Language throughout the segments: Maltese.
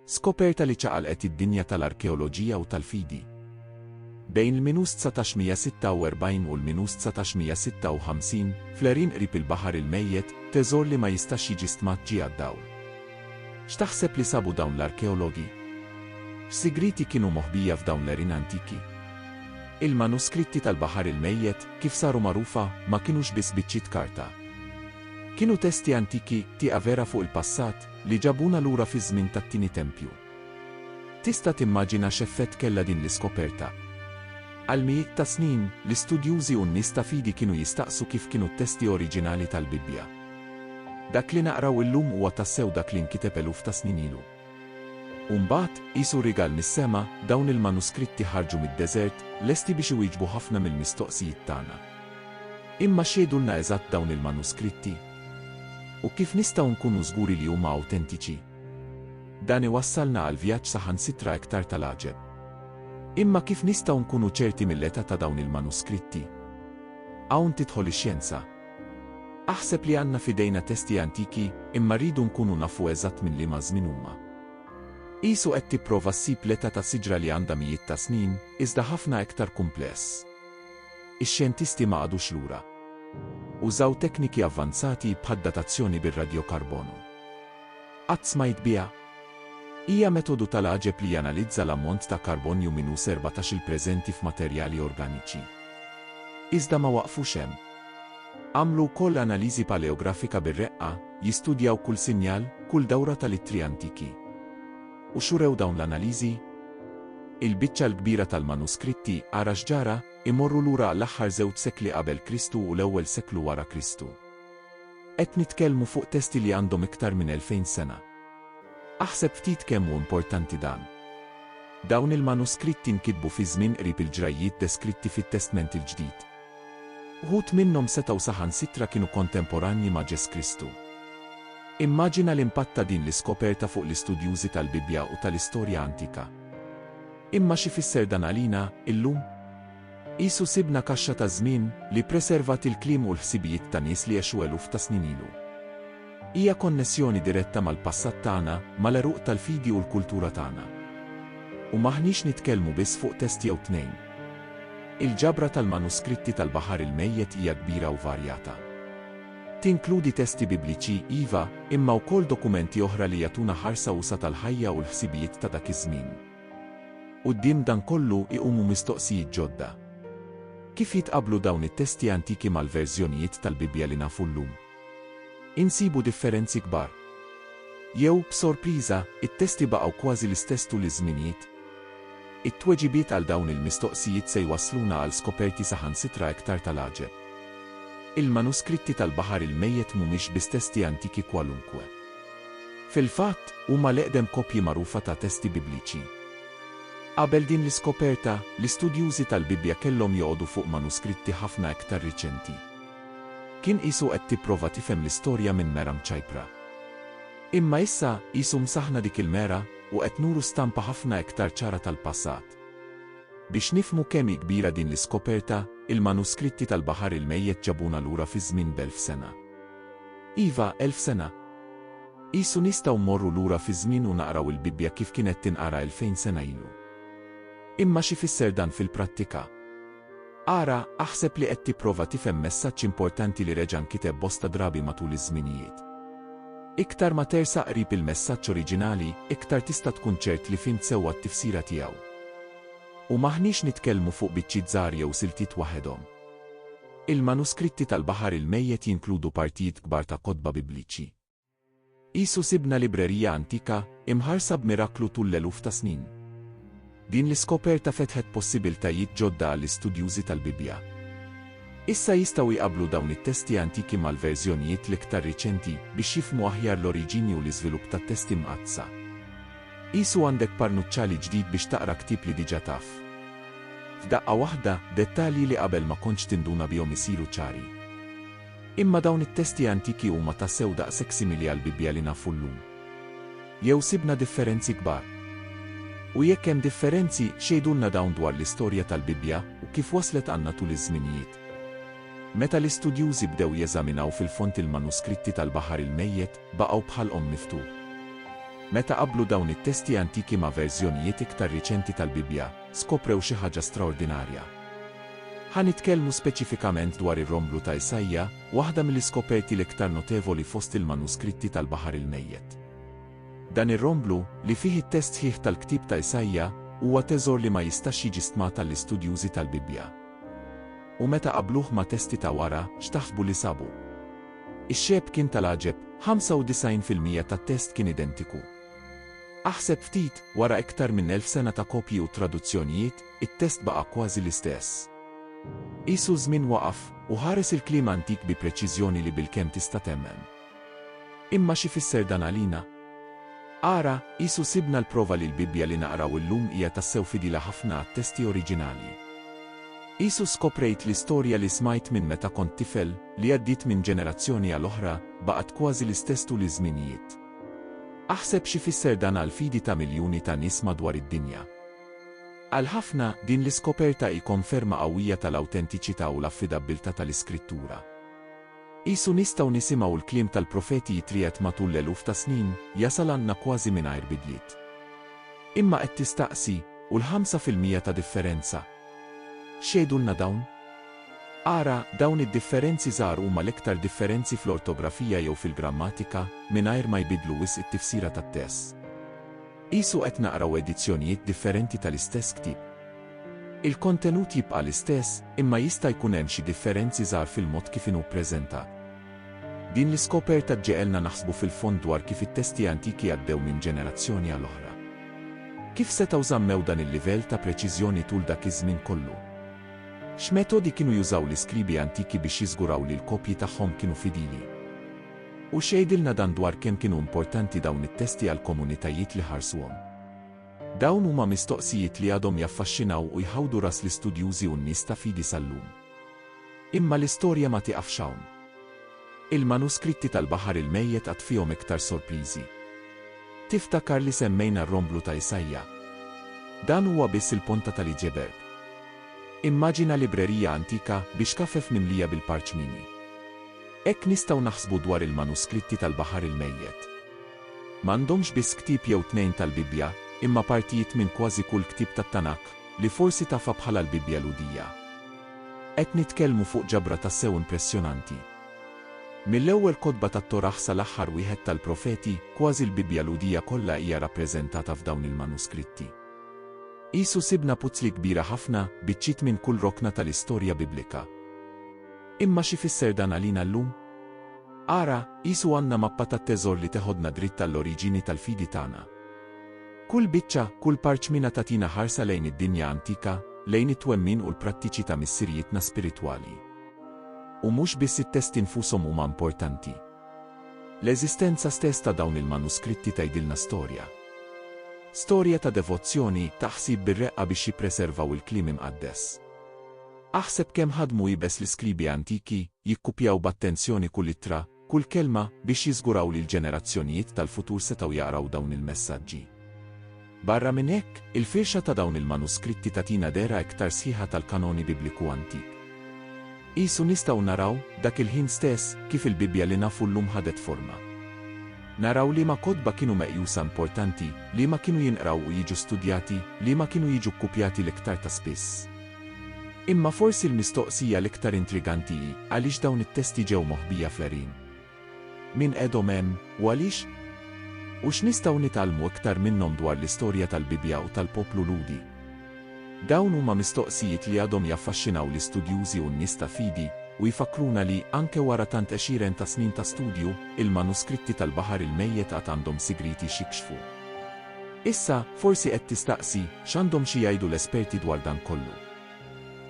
Skoperta li ċaqalqet id-dinja tal-arkeoloġija u tal-fidi. Bejn l-minus 1946 u l-minus 1956, fl-għerien qrib il-Baħar il-Mejjet, teżor li ma jistax jiġi stmat ġie għad-dawl. X'taħseb li sabu dawn l-arkeologi? X'sigrieti kienu moħbija f'dawn l-għerien antiki? Il-manuskritti tal-Baħar il-Mejjet, kif saru magħrufa, ma kinux biss biċċiet karta. Kienu testi antiki, tieqa vera fuq il-passat, li ġabuna lura fiż-żmien tat-tieni tempju. Tista' timmaġina x'effett kellha din l-iskoperta? Għal mijiet ta' snin, l-istudjużi u n-nies ta' fidi kienu jistaqsu kif kienu t-testi oriġinali tal-Bibbja. Dak li naqraw illum huwa tassew dak li nkiteb eluf ta' snin ilu. U mbagħad, qisu rigal mis-sema, dawn il-manuskritti ħarġu mid-deżert, lesti biex iwieġbu ħafna mill-mistoqsijiet tagħna. Imma x'jgħidulna eżatt dawn il-manuskritti? U kif nistgħu nkunu żguri li huma awtentiċi? Dan iwassalna għal vjaġġ saħansitra iktar tal-għaġeb. Imma kif nistgħu nkunu ċerti mill-età ta' dawn il-manuskritti? Hawn tidħol ix-xjenza. Aħseb li għandna f'idejna testi antiki, imma rridu nkunu nafu eżatt minn liema żmien huma. Qisu qed tipprova ssib l-età ta' siġra li għandha mijiet ta' snin, iżda ħafna iktar kumpless. Ix-xjentisti ma qagħdux lura. Użaw tekniki avvanzati bħad-datazzjoni bir-radjokarbonu. Qatt smajt biha? Hija metodu tal-għaġeb li janalizza l-ammont ta' karbonju minus erbatax-il preżenti f'materjali organiċi. Iżda ma waqfux hemm. Għamlu wkoll analiżi paleografika bir-reqqa, jistudjaw kull sinjal, kull dawra tal-ittri antiki. U x'urew dawn l-analiżi? Il-biċċa l-kbira tal-manuskritti, ara x'ġara, imorru lura għall-aħħar żewġ sekli qabel Kristu u l-ewwel seklu wara Kristu. Qed nitkellmu fuq testi li għandhom iktar minn elfejn sena. Aħseb ftit kemm hu importanti dan. Dawn il-manuskritti nkitbu fi żmien qrib il-ġrajjiet deskritti fit-Testment il-Ġdid. Uħud minnhom setgħu saħansitra kienu kontemporanji ma' Ġes Kristu. Immaġina l-impatt ta' din l-iskoperta fuq l-istudjużi tal-Bibbja u tal-istorja antika. Imma x'ifisser dan għalina, illum? Qisu sibna kaxxa taż-żmien, li ppreservat il-kliem u l-ħsibijiet ta' nies li għexu eluf ta' snin ilu. Hija konnessjoni diretta mal-passat tagħna, mal-għeruq tal-fidi u l-kultura tagħna. U m'aħniex nitkellmu biss fuq test jew tnejn. Il-ġabra tal-manuskritti tal-Baħar il-Mejjet hija kbira u varjata. Tinkludi testi Bibliċi, iva, imma wkoll dokumenti oħra li jagħtuna ħarsa usa' tal-ħajja u l-ħsibijiet ta' dak iż-żmien. Quddiem dan kollu iqumu mistoqsijiet ġodda. Kif jitqabblu dawn it-testi antiki mal-verżjonijiet tal-Bibbja li nafu llum? Insibu differenzi kbar. Jew, b'sorpriża, it-testi baqgħu kważi l-istess tul iż-żminijiet? It-tweġibiet għal dawn il-mistoqsijiet se jwassluna għal skoperti saħansitra iktar tal-għaġeb. Il-manuskritti tal-Baħar il-Mejjet mhumiex biss testi antiki kwalunkwe. Fil-fatt, huma l-eqdem kopji magħrufa ta' testi Bibliċi. Qabel din l-iskoperta, l-istudjużi tal-Bibbja kellhom joqogħdu fuq manuskritti ħafna iktar riċenti. Kien qisu qed tipprova tifhem l-istorja minn mera mċajpra. Imma issa, qisu msaħħna dik il-mera, u qed nuru stampa ħafna iktar ċara tal-passat. Biex nifhmu kemm hi kbira din l-iskoperta, il-manuskritti tal-Baħar il-Mejjet ġabuna lura fi żmien b'elf sena. Iva, elf sena! Qisu nistgħu mmorru lura fiż-żmien u naqraw il-Bibbja kif kienet tinqara elfejn sena ilu. Imma x'ifisser dan fil-prattika? Ara, aħseb li qed tipprova tifhem messaġġ importanti li reġa' nkiteb bosta drabi matul iż-żminijiet. Iktar ma tersaq qrib il-messaġġ oriġinali, iktar tista' tkun ċert li fhimt sewwa t-tifsira tiegħu. U m'aħniex nitkellmu fuq biċċiet żgħar jew siltiet waħedhom. Il-manuskritti tal-Baħar il-Mejjet jinkludu partijiet kbar ta' kotba Bibliċi. Qisu sibna librerija antika, imħarsa b'miraklu tul l-eluf ta' snin. Din l-iskoperta fetħet possibiltajiet ġodda għall-istudjużi tal-Bibbja. Issa jistgħu jqabblu dawn it-testi antiki mal-verżjonijiet l-iktar riċenti biex jifhmu aħjar l-oriġini u l-iżvilupp tat-Testi Mqaddsa. Qisu għandek parnuċċali ġdid biex taqra ktieb li diġà taf. F'daqqa waħda, dettalji li qabel ma kontx tinduna bihom isiru ċari. Imma dawn it-testi antiki huma tassew daqshekk simili għall-Bibbja li nafu llum? Jew sibna differenzi kbar? U jekk hemm differenzi, x'jgħidulna dawn dwar l-istorja tal-Bibbja u kif waslet għandna tul iż-żminijiet? Meta l-istudjużi bdew jeżaminaw fil-fond il-manuskritti tal-Baħar il-Mejjet, baqgħu bħalqhom miftuħ. Meta qabblu dawn it-testi antiki ma' verżjonijiet iktar riċenti tal-Bibbja, skoprew xi ħaġa straordinarja. Ħa nitkellmu speċifikament dwar ir-romblu ta' Isaija, waħda mill-iskoperti l-iktar notevoli fost il-manuskritti tal-Baħar il-Mejjet. Dan ir-romblu, li fih it-test sħiħ tal-ktieb ta' Isaija, huwa teżor li ma jistax jiġi stmat għall-istudjużi tal-Bibbja. U meta qabbluh ma' testi ta' wara, x'taħsbu li sabu? Ix-xebh kien tal-għaġeb, 95 fil-mija tat-test kien identiku. Aħseb ftit, wara iktar minn elf sena ta' kopji u traduzzjonijiet, it-test baqa' kważi l-istess. Qisu ż-żmien waqaf u ħares il-kliem antik bi preċiżjoni li bilkemm tista' temmen. Imma x'ifisser dan għalina? Ara, qisu sibna l-prova li l-Bibbja li naqraw illum hija tassew fidila ħafna għat-testi oriġinali. Qisu skoprejt li storja li smajt minn meta kont tifel, li għaddiet minn ġenerazzjoni għal oħra, baqgħet kważi l-istess tul iż-żminijiet. Aħseb x'ifisser dan għall-fidi ta' miljuni ta' nies madwar id-dinja. Għal ħafna, din l-iskoperta hi konferma qawwija tal-awtentiċità u l-affidabbiltà tal-Iskrittura. Qisu nistgħu nisimgħu l-kliem tal-profeti jitriegħed matul l-eluf ta' snin, jasal għandna kważi mingħajr bidliet. Imma qed tistaqsi, U l-ħamsa fil-mija ta' differenza? X'jgħidulna dawn? Ara, dawn id-differenzi żgħar huma l-iktar differenzi fl-ortografija jew fil-grammatika, mingħajr ma jbiddlu wisq it-tifsira tat-test. Qisu qed naqraw edizzjonijiet differenti tal-istess ktieb. Il-kontenut jibqa' l-istess, imma jista' jkun hemm xi differenzi żgħar fil-mod kif inhu ppreżentat. Din l-iskoperta ġġegħelna naħsbu fil-fond dwar kif it-testi antiki għaddew minn ġenerazzjoni għal oħra. Kif setgħu żammew dan il-livell ta' preċiżjoni tul dak iż-żmien kollu? X'metodi kienu jużaw l-iskribi antiki biex jiżguraw li l-kopji tagħhom kienu fidili? U x'jgħidilna dan dwar kemm kienu importanti dawn it-testi għall-komunitajiet li ħarsuhom? Dawn huma mistoqsijiet li għadhom jaffaxxinaw u jħawdu ras l-istudjużi u n-nies ta' fidi sal-lum. Imma l-istorja ma tieqafx hawn. Il-manuskritti tal-Baħar il-Mejjet għad fihom iktar sorpriżi. Tiftakar li semmejna r-romblu ta' Isaija? Dan huwa biss il-ponta tal-iġeberg. Immaġina librerija antika b'ixkafef mimlija bil-parċmini. Hekk nistgħu naħsbu dwar il-manuskritti tal-Baħar il-Mejjet. M'għandhomx biss ktieb jew tnejn tal-Bibbja, imma partijiet minn kważi kull ktieb tat-Tanakh, li forsi tafha bħala l-Bibbja Lhudija. Qed nitkellmu fuq ġabra tassew impressjonanti. Mill-ewwel kotba tat-Torah sal-aħħar wieħed tal-Profeti, kważi l-Bibbja Lhudija kollha hija rappreżentata f'dawn il-manuskritti. Qisu sibna puzzli kbira ħafna, biċċiet minn kull rokna tal-istorja Biblika. Imma x'ifisser dan għalina llum? Ara, qisu għandna mappa tat-teżor li teħodna dritt għall-oriġini tal-fidi tagħna. Kull biċċa, kull parċmina tagħtina ħarsa lejn id-dinja antika, lejn it-twemmin u l-prattiċi ta' missirijietna spiritwali. U mhux biss it-testi nfushom huma importanti. L-eżistenza stess ta' dawn il-manuskritti tgħidilna storja. Storja ta' devozzjoni, ta' ħsieb bir-reqqa biex jippreservaw il-Kliem Imqaddes. Aħseb kemm ħadmu iebes l-iskribi antiki, jikkupjaw b'attenzjoni kull ittra, kull kelma, biex jiżguraw li l-ġenerazzjonijiet tal-futur setgħu jaqraw dawn il-messaġġi. Barra minn hekk, il-firxa ta' dawn il-manuskritti tagħtina dehra iktar sħiħa tal-kanoni Bibliku antik. Qisu nistgħu naraw, dak il-ħin stess, kif il-Bibbja li nafu llum ħadet forma. Naraw liema kotba kienu meqjusa importanti, liema kienu jinqraw u jiġu studjati, liema kienu jiġu kkupjati l-iktar ta' spiss. Imma forsi l-mistoqsija l-iktar intriganti hi għaliex dawn it-testi ġew moħbija fl-għerien? Min qegħdhom hemm, u għaliex? U x'nistgħu nitgħallmu iktar minnhom dwar l-istorja tal-Bibbja u tal-poplu Lhudi? Dawn huma mistoqsijiet li għadhom jaffaxxinaw l-istudjużi u n-nies ta' fidi, u jfakkruna li, anke wara tant għexieren ta' snin ta' studju, il-manuskritti tal-Baħar il-Mejjet għad għandhom sigrieti x'jikxfu. Issa, forsi qed tistaqsi, x'għandhom xi jgħidu l-esperti dwar dan kollu?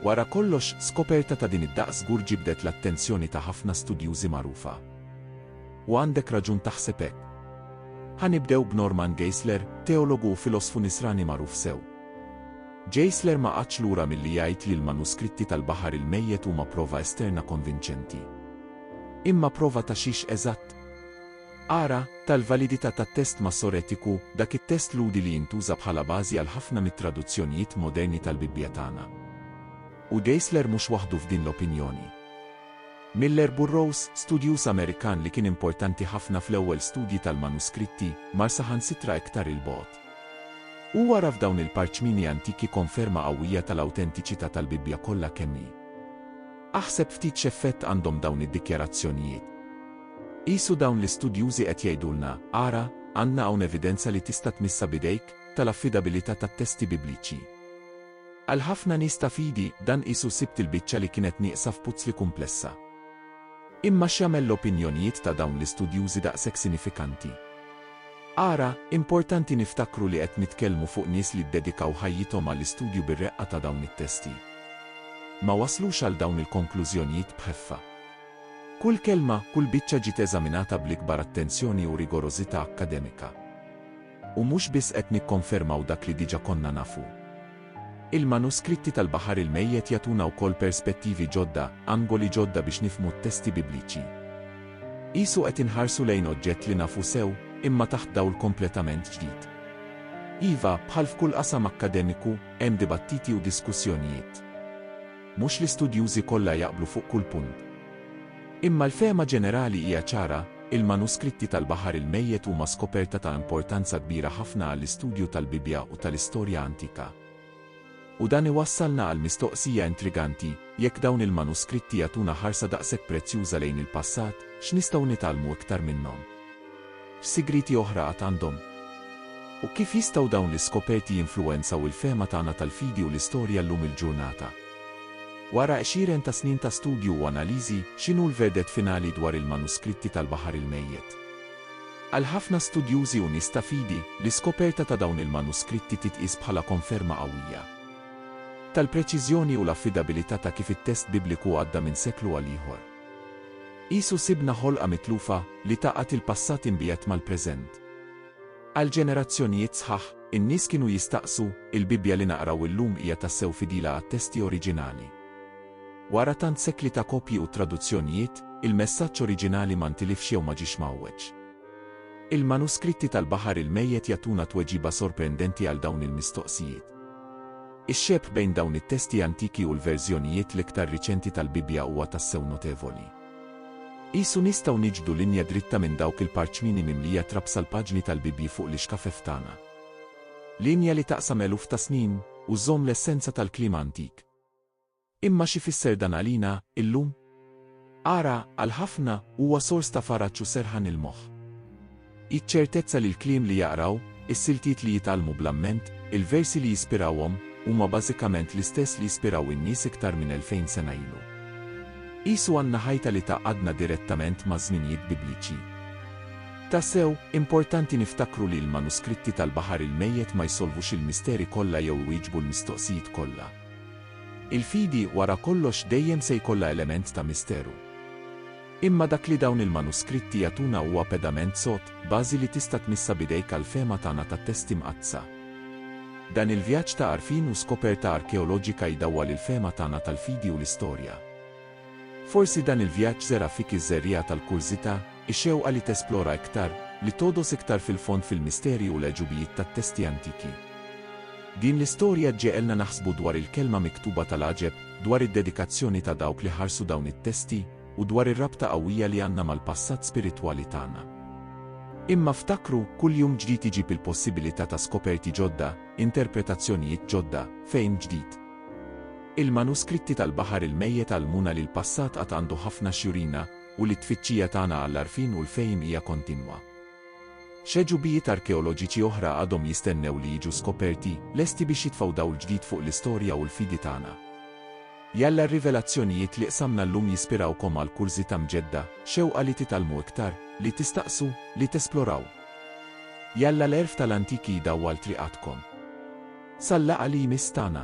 Wara kollox, skoperta ta' din id-daqs żgur ġibdet l-attenzjoni ta' ħafna studjużi magħrufa. U għandek raġun taħseb hekk. Ħa nibdew b'Norman Geisler, teologu u filosfu Nisrani magħruf sew. Geisler ma qagħadx lura milli jgħid li l-manuskritti tal-Baħar il-Mejjet huma prova esterna konvinċenti. Imma prova ta' xiex eżatt? Ara, tal-validità tat-test Massoretiku, dak it-test Lhudi li jintuża bħala bażi għal ħafna mit-traduzzjonijiet moderni tal-Bibbja tagħna. U Geisler mhux waħdu f'din l-opinjoni. Miller Burrows, studjuż Amerikan li kien importanti ħafna fl-ewwel studji tal-manuskritti, mar saħansitra iktar 'il bogħod. Hu ara f'dawn il-parċmini antiki konferma qawwija tal-awtentiċità tal-Bibbja kollha kemm hi. Aħseb ftit x'effett għandhom dawn id-dikjarazzjonijiet. Qisu dawn l-istudjużi qed jgħidulna, ara, għandna hawn evidenza li tista' tmissha b'idejk, tal-affidabilità tat-testi Bibliċi. Għal ħafna nies ta' fidi, dan qisu sibt il-biċċa li kienet nieqsa f'puzzli kumplessa. Imma x'jagħmel l-opinjonijiet ta' dawn l-istudjużi daqshekk sinifikanti? Ara, importanti niftakru li qed nitkellmu fuq nies li ddedikaw ħajjithom għall-istudju bir-reqqa ta' dawn it-testi. Ma waslux għal dawn il-konklużjonijiet b'ħeffa. Kull kelma, kull biċċa ġiet eżaminata bl-ikbar attenzjoni u rigorożità akkademika. U mhux biss qed nikkonfermaw dak li diġà konna nafu. Il-manuskritti tal-Baħar il-Mejjet jagħtuna wkoll perspettivi ġodda, angoli ġodda biex nifhmu t-testi Bibliċi. Qisu qed inħarsu lejn oġġett li nafu sew, imma taħt dawl kompletament ġdid. Iva, bħal f'kull qasam akkademiku, hemm dibattiti u diskussjonijiet. Mhux l-istudjużi kollha jaqblu fuq kull punt. Imma l-fehma ġenerali hija ċara, il-manuskritti tal-Baħar il-Mejjet huma skoperta ta' importanza kbira ħafna għall-istudju tal-Bibbja u tal-istorja antika. U dan iwassalna għall-mistoqsija intriganti, jekk dawn il-manuskritti jagħtuna ħarsa daqshekk prezzjuża lejn il-passat, x'nistgħu nitgħallmu iktar minnhom? X'sigrieti oħra għad għandhom? U kif jistgħu dawn l-iskoperti jinfluwenzaw il-fehma tagħna tal-fidi u l-istorja llum il-ġurnata? Wara għexieren ta' snin ta' studju u analiżi, x'inhu l-verdett finali dwar il-manuskritti tal-Baħar il-Mejjet? Għal ħafna studjużi u nies ta' fidi, l-iskoperta ta' dawn il-manuskritti titqies bħala konferma qawwija tal-preċiżjoni u l-affidabilità ta' kif it-test Bibliku għadda minn seklu għal ieħor. Qisu sibna ħolqa mitlufa li tgħaqqad il-passat imbiegħed mal-preżent. Għal ġenerazzjonijiet sħaħ, in-nies kienu jistaqsu, Il-Bibbja li naqraw illum hija tassew fidila għat-testi oriġinali? Wara tant sekli ta' kopji u traduzzjonijiet, il-messaġġ oriġinali ma ntilifx jew ma ġiex mgħawweġ? Il-manuskritti tal-Baħar il-Mejjet jagħtuna tweġiba sorprendenti għal dawn il-mistoqsijiet. Ix-xebh bejn dawn it-testi antiki u l-verżjonijiet l-iktar riċenti tal-Bibbja huwa tassew notevoli. Qisu nistgħu niġbdu linja dritta minn dawk il-parċmini mimlija trab sal-paġni tal-Bibbji fuq l-ixkafef tagħna. Linja li taqsam eluf ta' snin, u żżomm l-essenza tal-kliem antik. Imma x'ifisser dan għalina illum? Ara, għal ħafna, huwa sors ta' faraġġ u serħan il-moħħ. Hi ċ-ċertezza li l-kliem li jaqraw, is-siltiet li jitgħallmu bl-amment, il-versi li jispirawhom, huma bażikament l-istess li jispiraw in-nies iktar minn elfejn sena ilu. Qisu għandna ħajta li tgħaqqadna direttament maż-żminijiet Bibliċi. Tassew, importanti niftakru li l-manuskritti tal-Baħar il-Mejjet ma jsolvux il-misteri kollha jew iwieġbu l-mistoqsijiet kollha. Il-fidi wara kollox dejjem se jkollha element ta' misteru. Imma dak li dawn il-manuskritti jagħtuna huwa pedament sod, bażi li tista' tmissha b'idejk għall-fehma tagħna tat-Testi Mqaddsa. Dan il-vjaġġ ta' għarfien u skoperta arkeoloġika jdawwal il-fehma tagħna tal-fidi u l-istorja. Forsi dan il-vjaġġ żera' fik iż-żerriegħa tal-kurżità, ix-xewqa li tesplora iktar, li togħdos iktar fil-fond fil-misteri u l-għeġubijiet tat-testi antiki. Din l-istorja ġġegħelna naħsbu dwar il-kelma miktuba tal-għaġeb, dwar id-dedikazzjoni ta' dawk li ħarsu dawn it-testi, u dwar ir-rabta qawwija li għandna mal-passat spiritwali tagħna. Imma ftakru, kull jum ġdid iġib il-possibilità ta' skoperti ġodda, interpretazzjonijiet ġodda, fehim ġdid. Il-manuskritti tal-Baħar il-Mejjet għallmuna li l-passat għad għandu ħafna x'jurina u li t-tfittxija tagħna għall-għarfien u l-fehim hija kontinwa. X'għeġubijiet arkeoloġiċi oħra għadhom jistennew li jiġu skoperti, lesti biex jitfgħu dawl ġdid fuq l-istorja u l-fidi tagħna? Jalla r-rivelazzjonijiet li qsamna llum jispirawkom għal kurżità mġedda, xewqa li titgħallmu iktar, li tistaqsu, li tesploraw. Jalla l-għerf tal-antiki jdawwal triqatkom. Sal-laqgħa li jmiss tagħna.